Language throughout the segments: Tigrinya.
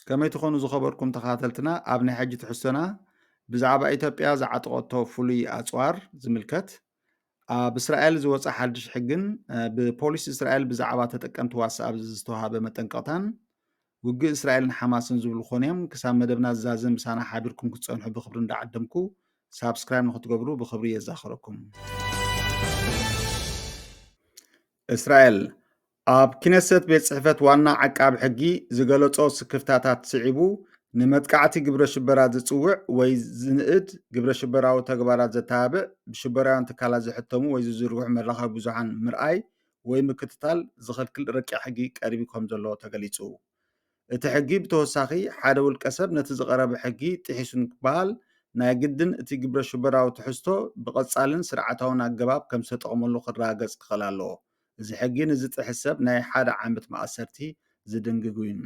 ከመይ ትኾኑ ዝኸበርኩም ተኸታተልትና ኣብ ናይ ሕጂ ትሕዝቶና ብዛዕባ ኢትዮጵያ ዝዓጠቐቶ ፍሉይ ኣፅዋር ዝምልከት ኣብ እስራኤል ዝወፀ ሓድሽ ሕግን ብፖሊስ እስራኤል ብዛዕባ ተጠቀምቲ ዋትስኣፕ ዝተዋሃበ መጠንቀቕታን ውግእ እስራኤልን ሓማስን ዝብሉ ኮን እዮም ክሳብ መደብና ዝዛዘ ምሳና ሓቢርኩም ክትፀንሑ ብክብሪ እንዳዓደምኩ ሳብስክራይብ ንክትገብሩ ብክብሪ የዛኸረኩም እስራኤል ኣብ ክነሰት ቤት ጽሕፈት ዋና ዓቃቢ ሕጊ ዝገለጾ ስክፍታታት ስዒቡ ንመጥቃዕቲ ግብረ ሽበራ ዝጽውዕ ወይ ዝንእድ ግብረ ሽበራዊ ተግባራት ዘተባብዕ ብሽበራውያን ትካላት ዝሕተሙ ወይ ዝዝርግሑ መራኸቢ ብዙሓን ምርኣይ ወይ ምክትታል ዝኽልክል ረቂቕ ሕጊ ቀሪቡ ከም ዘሎ ተገሊጹ እቲ ሕጊ ብተወሳኺ ሓደ ውልቀ ሰብ ነቲ ዝቐረበ ሕጊ ጥሒሱ ንክበሃል ናይ ግድን እቲ ግብረ ሽበራዊ ትሕዝቶ ብቐጻልን ስርዓታውን ኣገባብ ከም ዝተጠቕመሉ ክረጋገጽ ክኽእል ኣለዎ እዚ ሕጊ ንዝጥሕስ ሰብ ናይ ሓደ ዓመት ማእሰርቲ ዝድንግግ እዩ።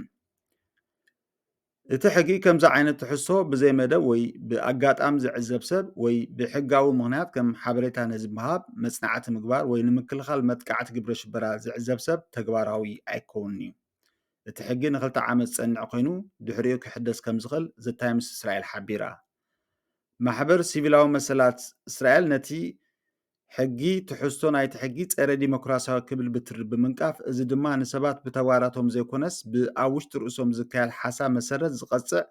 እቲ ሕጊ ከምዚ ዓይነት ትሕዝቶ ብዘይ መደብ ወይ ብኣጋጣሚ ዝዕዘብ ሰብ ወይ ብሕጋዊ ምኽንያት ከም ሓበሬታ ነዚ ምሃብ፣ መጽናዕቲ ምግባር ወይ ንምክልኻል መጥቃዕቲ ግብረ ሽበራ ዝዕዘብ ሰብ ተግባራዊ ኣይከውንን እዩ። እቲ ሕጊ ንክልተ ዓመት ዝጸንዕ ኮይኑ ድሕሪኡ ክሕደስ ከም ዝኽእል The Times Israel ሓቢራ። ማሕበር ሲቪላዊ መሰላት እስራኤል ነቲ ሕጊ ትሕዝቶ ናይቲ ሕጊ ጸረ ዲሞክራሲያዊ ክብል ብትሪ ብምንቃፍ እዚ ድማ ንሰባት ብተግባራቶም ዘይኮነስ ብኣብ ውሽጢ ርእሶም ዝካየድ ሓሳብ መሰረት ዝቐጽዕ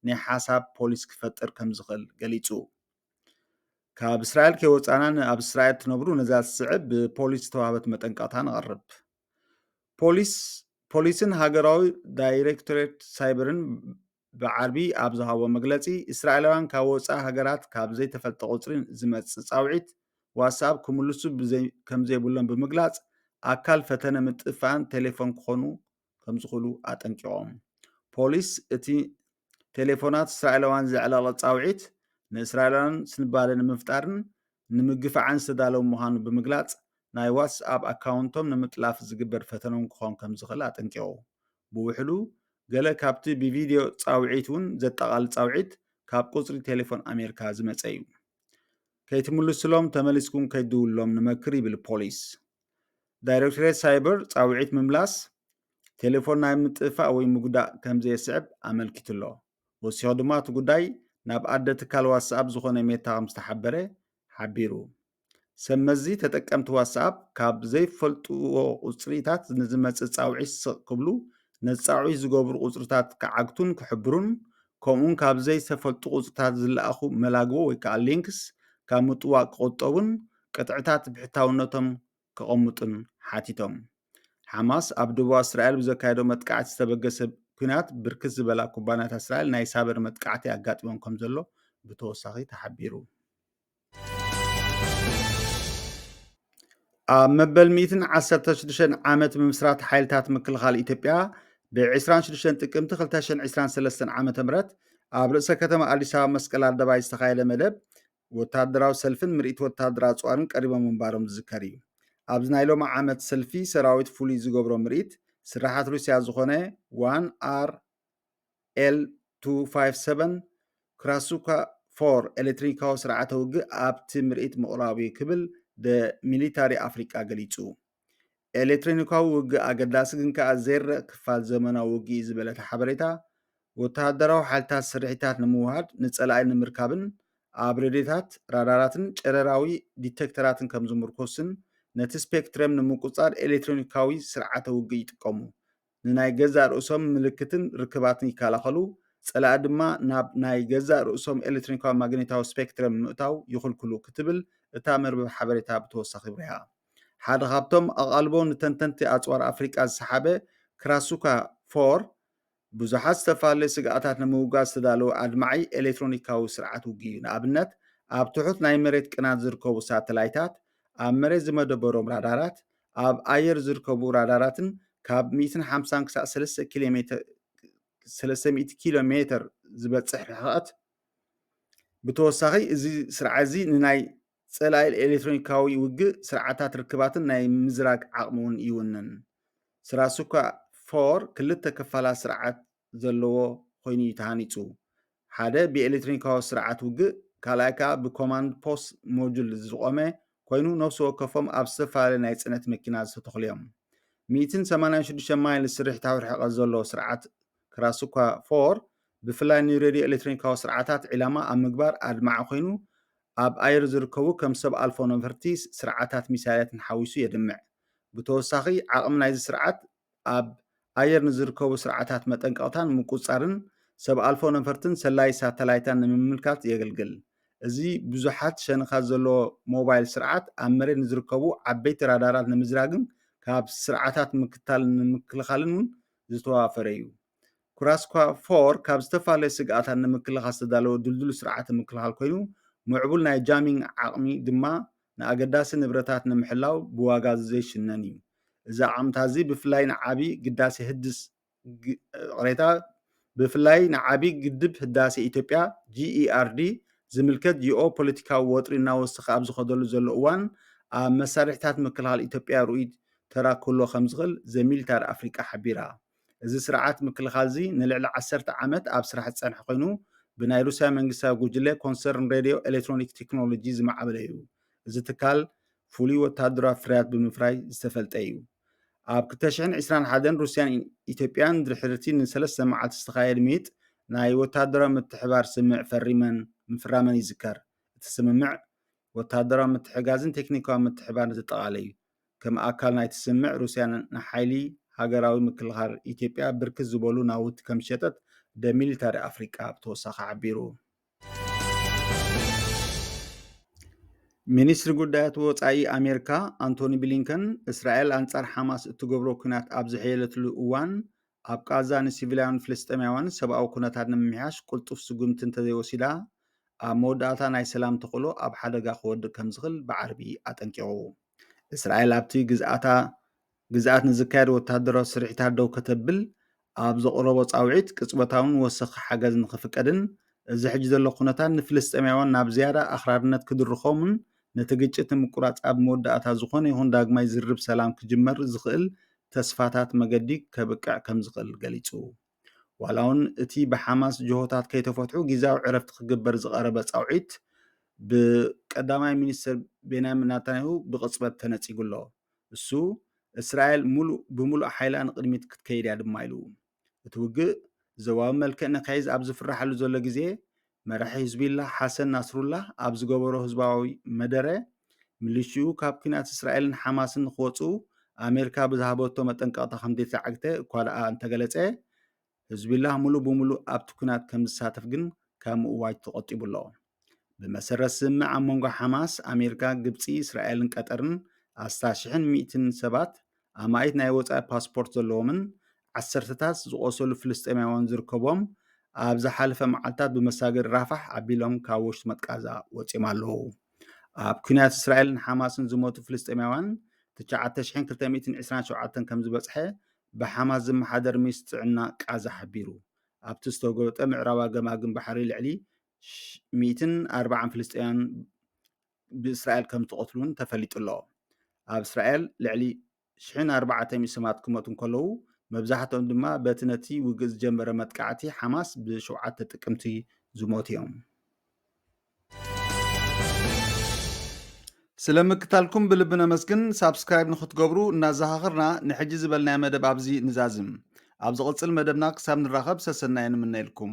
ናይ ሓሳብ ፖሊስ ክፈጥር ከም ዝኽእል ገሊጹ። ካብ እስራኤል ከይወጻና ንኣብ እስራኤል ትነብሩ ነዛ ዝስዕብ ብፖሊስ ዝተዋህበት መጠንቀቕታ ነቕርብ። ፖሊስ ፖሊስን ሃገራዊ ዳይሬክቶሬት ሳይበርን ብዓርቢ ኣብ ዝሃቦ መግለጺ፣ እስራኤላውያን ካብ ወጻኢ ሃገራት ካብ ዘይተፈልጠ ቁጽሪ ዝመጽእ ጻውዒት ዋትስኣፕ ክምልሱ ከምዘይብሎም ብምግላጽ፣ ኣካል ፈተነ ምጥፍፋእን ቴሌፎን ክኾኑ ከምዝኽእሉ ኣጠንቂቖም። ፖሊስ እቲ ቴሌፎናት እስራኤላውያን ዘዕለቕልቕ ጻውዒት፣ ንእስራኤላውያን ስንባደ ንምፍጣርን ንምግፋዕን ዝተዳለወ ምዃኑ ብምግላጽ፣ ናይ ዋትስኣፕ ኣካውንቶም ንምጥላፍ ዝግበር ፈተነ'ውን ክኾን ከምዝኽእል ኣጠንቂቑ። ብውሕዱ ገለ ካብቲ ብቪድዮ ጻውዒት እውን ዘጠቓልል ጻውዒት ካብ ቁጽሪ ቴሌፎን ኣሜሪካ ዝመጸ እዩ። ከይትምልሱሎም ተመሊስኩም ከይትድውሉሎም ንመክር ይብል ፖሊስ። ዳይሬክቶሬት ሳይበር ጻውዒት ምምላስ ቴሌፎን ናይ ምጥፋእ ወይ ምጉዳእ ከም ዘየስዕብ ኣመልኪቱ ኣሎ። ወሲኹ ድማ እቲ ጉዳይ ናብ ኣደ ትካል ዋትስኣፕ ዝኾነ ሜታ ከም ዝተሓበረ ሓቢሩ። ሰብ መዚ ተጠቀምቲ ዋትስኣፕ ካብ ዘይፈልጥዎ ቁፅሪታት ንዝመፅእ ፃውዒት ስቕ ክብሉ፣ ነቲ ፃውዒት ዝገብሩ ቁፅሪታት ክዓግቱን ክሕብሩን፣ ከምኡ'ውን ካብ ዘይተፈልጡ ቁፅሪታት ዝለኣኹ መላግቦ ወይ ከዓ links ካብ ምጥዋቕ ክቑጠቡን ቅጥዕታት ብሕታውነቶም ከቐምጡን ሓቲቶም። ሓማስ ኣብ ደቡባዊ እስራኤል ብዘካየዶ መጥቃዕቲ ዝተበገሰ ኲናት ብርክት ዝበላ ኩባንያታት እስራኤል ናይ ሳበር መጥቃዕቲ ኣጋጢሞም ከምዘሎ ብተወሳኺ ተሓቢሩ። ኣብ መበል 116 ዓመት ምምስራት ሓይልታት ምክልኻል ኢትዮጵያ ብ26 ጥቅምቲ 223 ዓ ም ኣብ ርእሰ ከተማ ኣዲስ ኣበባ መስቀል ኣደባይ ዝተኻየደ መደብ ወታደራዊ ሰልፍን ምርኢት ወታደር ኣፅዋርን ቀሪቦም ምንባሮም ዝዝከር እዩ ኣብዚ ናይ ሎሚ ዓመት ሰልፊ ሰራዊት ፍሉይ ዝገብሮ ምርኢት ስራሓት ሩስያ ዝኾነ ዋን ኣር ኤል-257 ክራሱካ ፎር ኤሌክትሪካዊ ስርዓተ ውግእ ኣብቲ ምርኢት ምቕራቡ'ዩ ክብል ደ ሚሊታሪ ኣፍሪቃ ገሊጹ። ኤሌክትሮኒካዊ ውግእ ኣገዳሲ ግን ከኣ ዘይርእ ክፋል ዘመናዊ ውግእ'ዩ ዝበለ እቲ ሓበሬታ፣ ወተሃደራዊ ሓይልታት ስርሒታት ንምውሃድ፣ ንጸላኢ ንምርካብን ኣብ ሬድዮታት፣ ራዳራትን ጨረራዊ ዲተክተራትን ከም ዝምርኮስን ነቲ ስፔክትረም ንምቁጽጻር ኤሌክትሮኒካዊ ስርዓተ ውግእ ይጥቀሙ። ንናይ ገዛእ ርእሶም ምልክትን ርክባትን ይከላኸሉ፣ ጸላኢ ድማ ናብ ናይ ገዛእ ርእሶም ኤሌትሮኒካዊ ማግኔታዊ ስፔክትረም ምእታው ይኽልክሉ ክትብል እታ መርበብ ሓበሬታ ብተወሳኺ ኣብሪሃ። ሓደ ካብቶም ኣቓልቦ ንተንተንቲ ኣጽዋር ኣፍሪቃ ዝሰሓበ ክራሱካ ፎር፣ ብዙሓት ዝተፈላለዩ ስግኣታት ንምውጋድ ዝተዳለወ ኣድማዒ ኤሌትሮኒካዊ ስርዓት ውግእ'ዩ፣ ንኣብነት ኣብ ትሑት ናይ መሬት ቅናት ዝርከቡ ሳተላይታት፣ ኣብ መሬት ዝመደበሮም ራዳራት፣ ኣብ ኣየር ዝርከቡ ራዳራትን ካብ ሚእትን ሓምሳን ክሳዕ ሰለስተ ኪሎ ሜተር ሰለስተ ሚእቲ ኪሎ ሜተር ዝበጽሕ ርሕቐት ብተወሳኺ እዚ ስርዓት እዚ ንናይ ጸላኢ ኤሌክትሮኒካዊ ውግእ ስርዓታት ርክባትን ናይ ምዝራግ ዓቕሚ እውን ይውንን ስራሱካ ፎር ክልተ ክፋላት ስርዓት ዘለዎ ኮይኑ እዩ ተሃኒጹ። ሓደ ብኤሌክትሮኒካዊ ስርዓት ውግእ፣ ካልኣይ ከኣ ብኮማንድ ፖስት ሞጁል ዝቖመ ኮይኑ ነፍሲ ወከፎም ኣብ ዝተፈላለየ ናይ ጽዕነት መኪና ዝተተኽሉ እዮም። ሚእትን ሰማንያን ሽዱሽተ ማይልስ ስርሒታዊ ርሕቐት ዘለዎ ስርዓት ክራስኳ ፎር ብፍላይ ንሬድዮ ኤሌክትሮኒካዊ ስርዓታት ዒላማ ኣብ ምግባር ኣድማዒ ኮይኑ ኣብ ኣየር ዝርከቡ ከም ሰብ ኣልፎ ነፈርቲ ስርዓታት ሚሳይላትን ሓዊሱ የድምዕ። ብተወሳኺ ዓቕሚ ናይዚ ስርዓት ኣብ ኣየር ንዝርከቡ ስርዓታት መጠንቀቕታን ምቁጽጻርን ሰብ ኣልፎ ነፈርትን ሰላዪ ሳተላይታን ንምምልካት የገልግል። እዚ ብዙሓት ሸንኻት ዘለዎ ሞባይል ስርዓት፣ ኣብ መሬት ንዝርከቡ ዓበይቲ ራዳራት ንምዝራግን ካብ ስርዓታት ምክትታል ንምክልኻልን እውን ዝተዋፈረ እዩ። ኩራስኳ ፎር ካብ ዝተፈላለዩ ስግኣታት ንምክልኻል ዝተዳለወ ድልዱል ስርዓተ ምክልኻል ኮይኑ፣ ምዕቡል ናይ ጃሚንግ ዓቕሚ ድማ ንኣገዳሲ ንብረታት ንምሕላው ብዋጋ ዝዘይሽነን እዩ። እዚ ኣዓምታ እዚ ብፍላይ ንዓቢ ግዳሴ ህድስ ቕሬታ ብፍላይ ንዓቢ ግድብ ህዳሴ ኢትዮጵያ፣ GERD፣ ዝምልከት ጂኦ ፖለቲካዊ ወጥሪ እናወሰኸ ኣብ ዝኸደሉ ዘሎ እዋን ኣብ መሳርሒታት ምክልኻል ኢትዮጵያ ርኡይ ተራ ክህልዎ ከምዝኽእል ዘ ሚሊታሪ ኣፍሪቃ ሓቢራ። እዚ ስርዓት ምክልኻል'ዚ ንልዕሊ ዓሰርተ ዓመት ኣብ ስራሕ ዝጸንሐ ኮይኑ፣ ብናይ ሩስያ መንግስታዊ ጉጅለ ኮንሰርን ሬድዮ ኤሌክትሮኒክ ቴክኖሎጂ ዝማዕበለ'ዩ። እዚ ትካል ፍሉይ ወተሃደራዊ ፍርያት ብምፍራይ ዝተፈልጠ'ዩ። ኣብ ክልተ ሽሕን ዕስራን ሓደን ሩስያን ኢትዮጵያን ድሕሪ'ቲ ንሰለስተ መዓልቲ ዝተኻየድ ምይይጥ ናይ ወተሃደራዊ ምትሕብባር ስምምዕ ፈሪመን ምፍራመን ይዝከር። እቲ ስምምዕ ወተሃደራዊ ምትሕግጋዝን ቴክኒካዊ ምትሕብባርን ዘጠቓልል'ዩ። ከም ኣካል ናይቲ ስምምዕ ሩስያ ንሓይሊ ሃገራዊ ምክልኻል ኢትዮጵያ ብርክት ዝበሉ ናውቲ ከምዝሸጠት ደ ሚሊታሪ ኣፍሪቃ ብተወሳኺ ሓቢሩ። ሚኒስትሪ ጉዳያት ወፃኢ ኣሜሪካ ኣንቶኒ ብሊንከን እስራኤል ኣንፃር ሓማስ እትገብሮ ኩናት ኣብ ዝሕየለትሉ እዋን ኣብ ቓዛ ንሲቪላውያን ፍልስጤማውያን ሰብኣዊ ኩነታት ንምምሕያሽ ቅልጡፍ ስጉምቲ እንተዘይወሲዳ ኣብ መወዳእታ ናይ ሰላም ተኽእሎ ኣብ ሓደጋ ክወድቕ ከምዝኽል ብዓርቢ ኣጠንቂቑ። እስራኤል ኣብቲ ግዝኣታ ግዝኣት ንዝካየድ ወተሃደራዊ ስርሒታት ደው ከተብል ኣብ ዘቕረቦ ጻውዒት ቅጽበታውን ወሰኺ ሓገዝ ንኽፍቀድን እዚ ሕጂ ዘሎ ኩነታት ንፍልስጤማውያን ናብ ዝያዳ ኣኽራርነት ክድርኾምን ነቲ ግጭት ንምቁራጽ ኣብ መወዳእታ ዝኾነ ይኹን ዳግማይ ዝርርብ ሰላም ክጅመር ዝኽእል ተስፋታት መገዲ ከብቅዕ ከምዝኽእል ገሊጹ። ዋላ'ውን እቲ ብሓማስ ጅሆታት ከይተፈትሑ ግዝያዊ ዕረፍቲ ክግበር ዝቐረበ ጻውዒት ብቀዳማይ ሚኒስተር ቤንያሚን ናታንያሁ ብቕጽበት ተነጺጉ'ሎ። እሱ እስራኤል ምሉእ ብምሉእ ሓይላ ንቕድሚት ክትከይድ'ያ ድማ ኢሉ። እቲ ውግእ ዞባዊ መልክዕ ንክሕዝ ኣብ ዝፍራሓሉ ዘሎ ግዜ፣ መራሒ ህዝቢላህ ሓሰን ናስሩላህ ኣብ ዝገበሮ ህዝባዊ መደረ፣ ሚሊሽኡ ካብ ኲናት እስራኤልን ሓማስን ንክወጽኡ ኣሜሪካ ብዝሃበቶ መጠንቀቕታ ከምዘይተዓግተ እኳደኣ እንተገለጸ፣ ህዝቢላህ ምሉእ ብምሉእ ኣብቲ ኲናት ከምዝሳተፍ ግን ካብ ምእዋጅ ተቖጢቡ'ሎ። ብመሰረት ስምምዕ ኣብ መንጎ ሓማስ፣ ኣሜሪካ፣ ግብጺ፣ እስራኤልን ቀጠርን ኣስታት ሽሕን ሚእትን ሰባት ኣማኢት ናይ ወጻኢ ፓስፖርት ዘለዎምን ዓሰርተታት ዝቖሰሉ ፍልስጤማውያን ዝርከቦም ኣብ ዝሓለፈ መዓልታት ብመሳገሪ ራፋሕ ኣቢሎም ካብ ወሽጢ መጥቃዛ ወፂኦም ኣለዉ ኣብ ኩናት እስራኤልን ሓማስን ዝሞቱ ፍልስጤማውያን 9227 ከም ዝበፅሐ ብሓማስ ዝመሓደር ሚኒስትሪ ጥዕና ቃዛ ሓቢሩ ኣብቲ ዝተጎበጠ ምዕራባ ገማግም ባሕሪ ልዕሊ ሚእትን ኣርባዓን ፍልስጤማውያን ብእስራኤል ከም ዝተቐትሉ እውን ተፈሊጡ ኣሎ። ኣብ እስራኤል ልዕሊ ሽሕን ኣርባዕተ ሚእቲ ሰባት ክመቱ እንከለዉ መብዛሕትኦም ድማ በቲ ነቲ ውግእ ዝጀመረ መጥቃዕቲ ሓማስ ብሸውዓተ ጥቅምቲ ዝሞቱ እዮም። ስለ ምክታልኩም ብልቢ ነመስግን። ሳብስክራይብ ንክትገብሩ እናዘኻኽርና ንሕጂ ዝበልናዮ መደብ ኣብዚ ንዛዝም። ኣብ ዝቕጽል መደብና ክሳብ ንራኸብ ሰሰናዩ ንምነየልኩም።